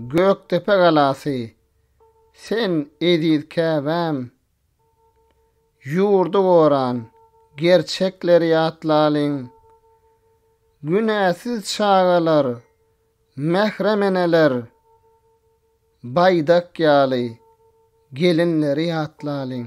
Gökdepe galasy, sen eziz Käbäm! Ýurdy goran, gerçekleri ýatlalyň! Günäsiz çagalar, mährem eneler, baýdak ýaly gelinleri ýatlalyň!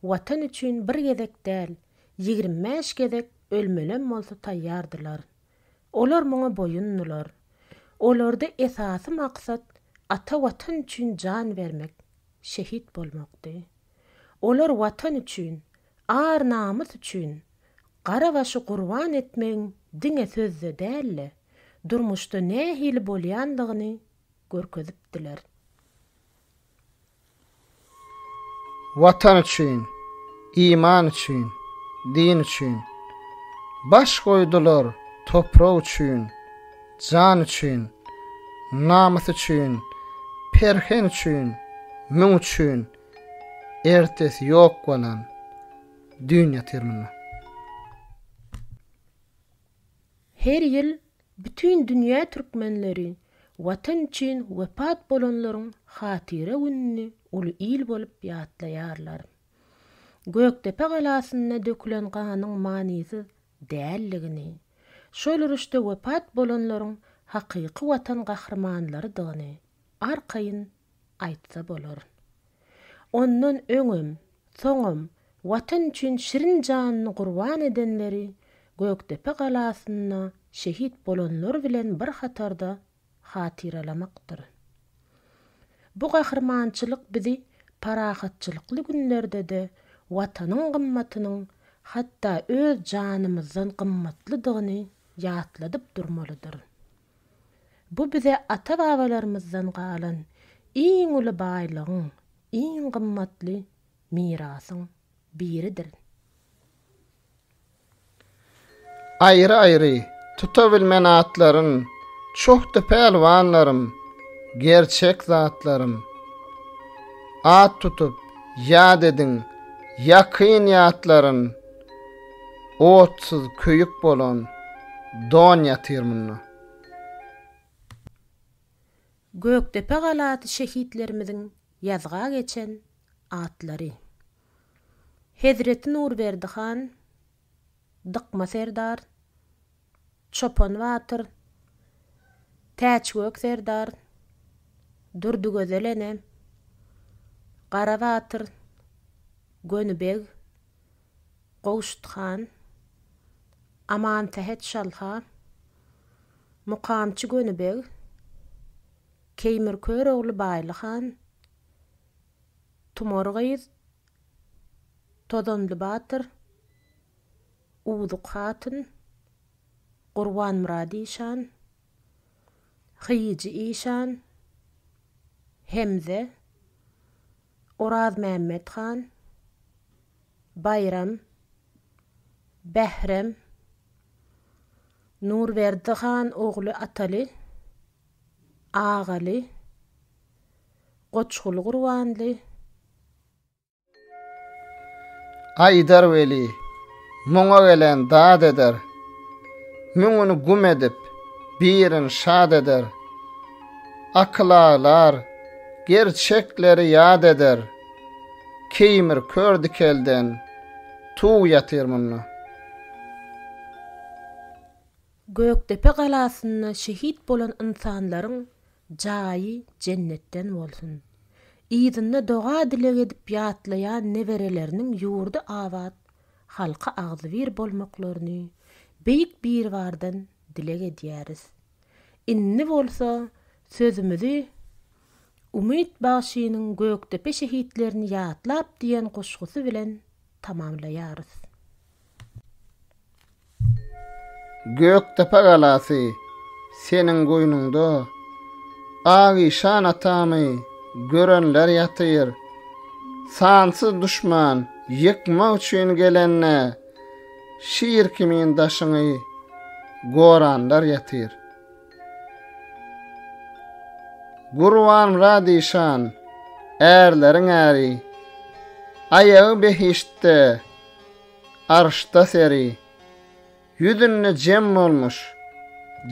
Watan üçin bir gezek däl, ýigrimi bäş gezek ölmelem bolsa taýýardylar. Olar muňa boýundylar. Olarda esasy maksat ata Watan üçin jan bermek, şehit bolmakdy. Olar Watan üçin, ar-namys üçin gara başy gurban etmegiň diňe sözde däl-de, durmuşda nähili bolýandygyny görkezipdiler. Watan üçin, iman üçin, din üçin Baş goýdular toprak üçin, jan üçin Namys üçin, perhen üçin, müň üçin Ertesi ýok bolan düýn ýatyr munda. Her ýyl bütin dünýä türkmenleri Watan üçin wepat bolanlaryň hatyra gününi uly il bolup ýatlaýarlar. Gökdepe galasynda dökülen ganyň manysyz däldigini, şol uruşda wepat bolanlaryň hakyky Watan gahrymanlarydygyny arkaýyn aýtsa bolar. Ondan öňem, soňam Watan üçin şirin janyny gurban edenleri Gökdepe galasynda şehit bolanlar bilen bir hatarda hatyralamakdyr. Bu gahrymançylyk bizi parahatçylykly günlerde-de Watanyň gymmatynyň hatda öz janymyzdan gymmatlydygyny ýatladyp durmalydyr. Bu bize ata-babalarymyzdan galan iň uly baýlygyň, iň gymmatly mirasyň biridir. Aýry-aýry tutabilmen atlarym, Çohdy pälwanlarym, gerçek zatlarym. At tutup, ýat ediň, ýakyn ýatlarym. Otsyz köýük bolan don ýatyr munda. Gökdepe galasy şehitlerimiziň ýazga geçen atlary. Hezreti Nurberdi han, Dykma serdar, Çopan batyr, Täçgök serdar, Durdygözel ene, Gara batyr, Göni beg, Gowşut han, Amansähet şalha, Mukamçy Göni beg, Keýmir Körogly Baýly han, Tumar gyz, Tozanly batyr, Uwzuk hatyn, Gurbanmyrat işan, Hyýyjy işan, Hemze, Orazmämmet han, Baýram, Bährem, Nurberdi han ogly Ataly, Agaly, Goçguly Gurbanly, Aýdar weli, muňa gelen dad eder, Müňüni güm edip, birini şad eder. Akyl aglar, gerçekleri ýad eder, Keýmir kör dikelden tuw ýatyr munda. Gökdepe galasynda şehit bolan ynsanlaryň Jaýy jennetden bolsun. Yzyna doga dileg edip ýatlaýan nebereleriniň ýurdy abat, halky agzybir bolmaklaryny Beýik Biribardan dileg edýäris. Indi bolsa sözümizi Umyt bagşynyň Gökdepe şehitlerini ýatlap diýen goşgusy bilen tamamlaýarys. Gökdepe galasy, seniň goýnuňda Agyşan atamy görenler ýatyr. Sansyz duşman ýykmak üçin gelende, Şir kimin daşyňy goranlar ýatyr. Gurbanmyrat işan, ärleriň äri, Aýagy behiştde, Arşda seri. Ýüzünde jem bolmuş,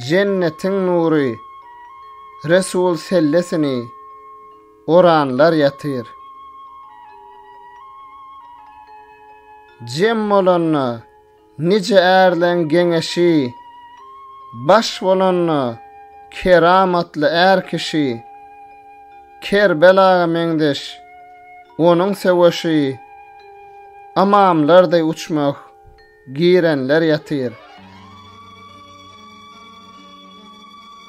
Jennetiň nury, Resul sellesini Oranlar ýatyr. Jem bolanda, nije ärleň geňeşi, Baş bolanda, keramatly är kişi, Kerbel aga meňzeş. Onuň söweşi Amamlar deý uçmah. Girenler ýatyr.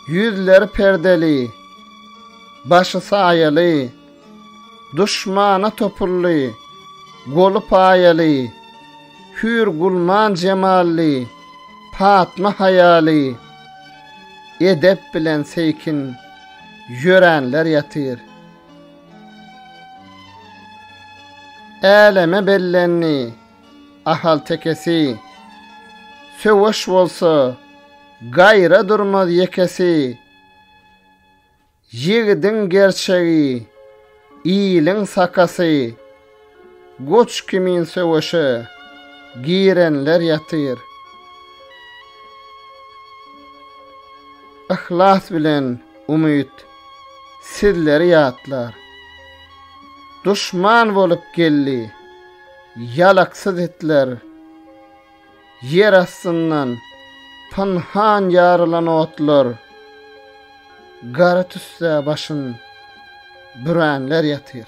Ýüzleri perdeli. Başy saýaly. Duşmana topully. Goly paýaly. Hür gulman jemally. Patma haýaly. Edep bilen seýkin. Ýöränler ýatyr. Äleme bellendi ahaltekesi, Söweş bolsa, gaýra durmaz ýekesi. Ýigidiň gerçegi, iliň sakasy. Goç kimin söweşe girenler ýatyr. Yhlas bilen umyt sizleri ýatlar. Duşman bolup geldi ýalaksyz itler. Ýer astyndan pynhan ýarylan otlar. Gara tüssä başyn bürenler ýatyr.